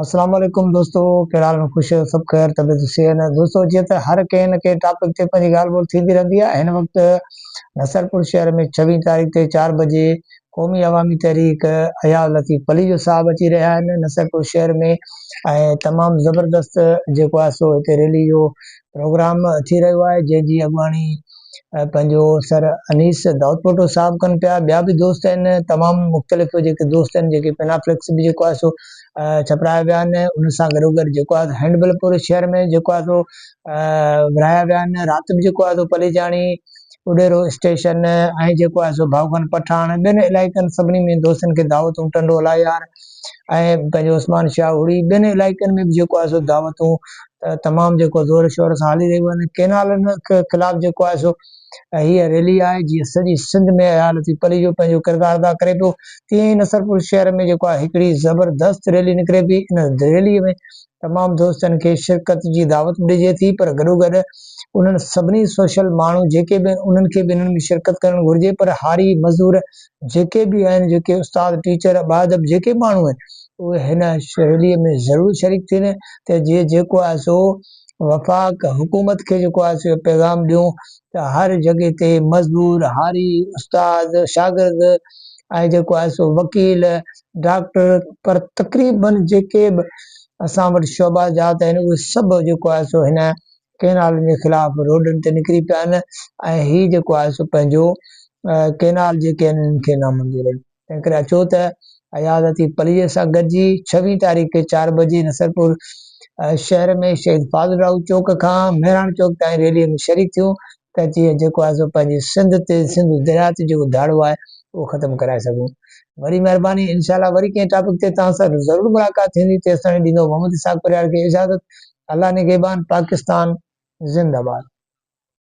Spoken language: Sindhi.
السلام عليڪم دوستو ڪهڙا حال ۾ خوش آهيو سڀ خير طبيعت صحيح نه دوستو جيئن ته هر ڪنهن نه ڪنهن ٽاپڪ تي پنهنجي ڳالهه ٻولهه ٿيندي رهندي آهي هن وقت نصرپور شهر ۾ ڇويهين تاريخ تي چار بجي قومي عوامي تحريڪ اياز لطيف پليجو صاحب اچي رهيا آهن نصرپور شهر ۾ ۽ تمام زبردست جيڪو آهي سو هتي ريلي جو پروگرام ٿي رهيو آهي جنهن جي اڳواڻي پنهنجو سر انيس دائودپوٽو صاحب ڪن پيا ٻيا به دوست آهن تمام مختلف جيڪي دوست آهن جيڪي پينافليڪس به جيڪو آهي سو ڇپرايا ويا آهن ان سان گڏو گڏ جيڪو آهي هينڊبل پور شهر ۾ جيڪو آهي سو ورايا ويا آهن رات به جيڪو آهي سو پليجاڻي اڏيرو اسٽيشن ۽ جيڪو آهي سو ڀائوخان پٺاڻ ٻين علائقن سڀني ۾ دوستن کي دعوتون ٽنڊولا يار ۽ پنهنجو عثمان شاهه هڙي ٻين علائقن ۾ به جيڪو آهي سو دعوتون تمام جيڪو زور شور سان هلي رهيون آهن ڪينالن خلاف جيڪو آهي سو هيء ريلي آهي جيئن سڄي سنڌ ۾ عيالتي پلي جو پنهنجو ڪردار ادا ڪري پيو تيئن ئي نصرپور شهر ۾ جيڪو آهي هڪڙي زبردست ريلي نڪري پئي ان ريلي ۾ تمام دوستن کي شرڪت جي دعوت ڏجي ٿي پر گڏوگڏ انهن سڀني سوشل ماڻهو جيڪي به آهن انهن کي به انهن ۾ شرڪت ڪرڻ گهرجي پر هاري مزور جيڪي به آهن جيڪي استاد ٽيچر باادب جيڪي ماڻهو آهن اهي هن سهيلي ۾ ضرور شريڪ ٿين ته جيئن جيڪو آهي سو وفاق حڪومت کي جيڪو آهي سو اهو پيغام ڏيون ته هر جڳهي تي مزور هاري استاد شاگرد ۽ جيڪو آهي سو وڪيل ڊاڪٽر پر تقريباً جيڪي به اسان وٽ شعبا جات آهن اهي سڀ جيڪو آهي سو هن ڪئنالن جي خلاف روڊن تي نڪري پيا آهن ۽ هي جيڪو آهي سو پنهنجو ڪئنال جيڪي آهن انهن کي نامنظور آهن تنهن ڪري اچو ته عيادتي پليء سان گڏجي ڇويهين تاريخ کي چار بجي نصرپور شهر ۾ شهيد فاضل راهو چوڪ کان مهراڻ چوڪ تائين ريلي ۾ شريڪ ٿيون ته جيئن جيڪو آهي سو پنهنجي سنڌ تي سنڌ درياء تي جيڪو ڌاڙو آهي اهو ختم ڪرائي سگهون وري مهرباني انشاء الله وري ڪنهن ٽاپڪ تي توهان سان ضرور ملاقات ٿيندي تيستائين ڏيندو محمد اسحاق پرهياڙ کي اجازت الله نگهبان پاڪستان زنده باد.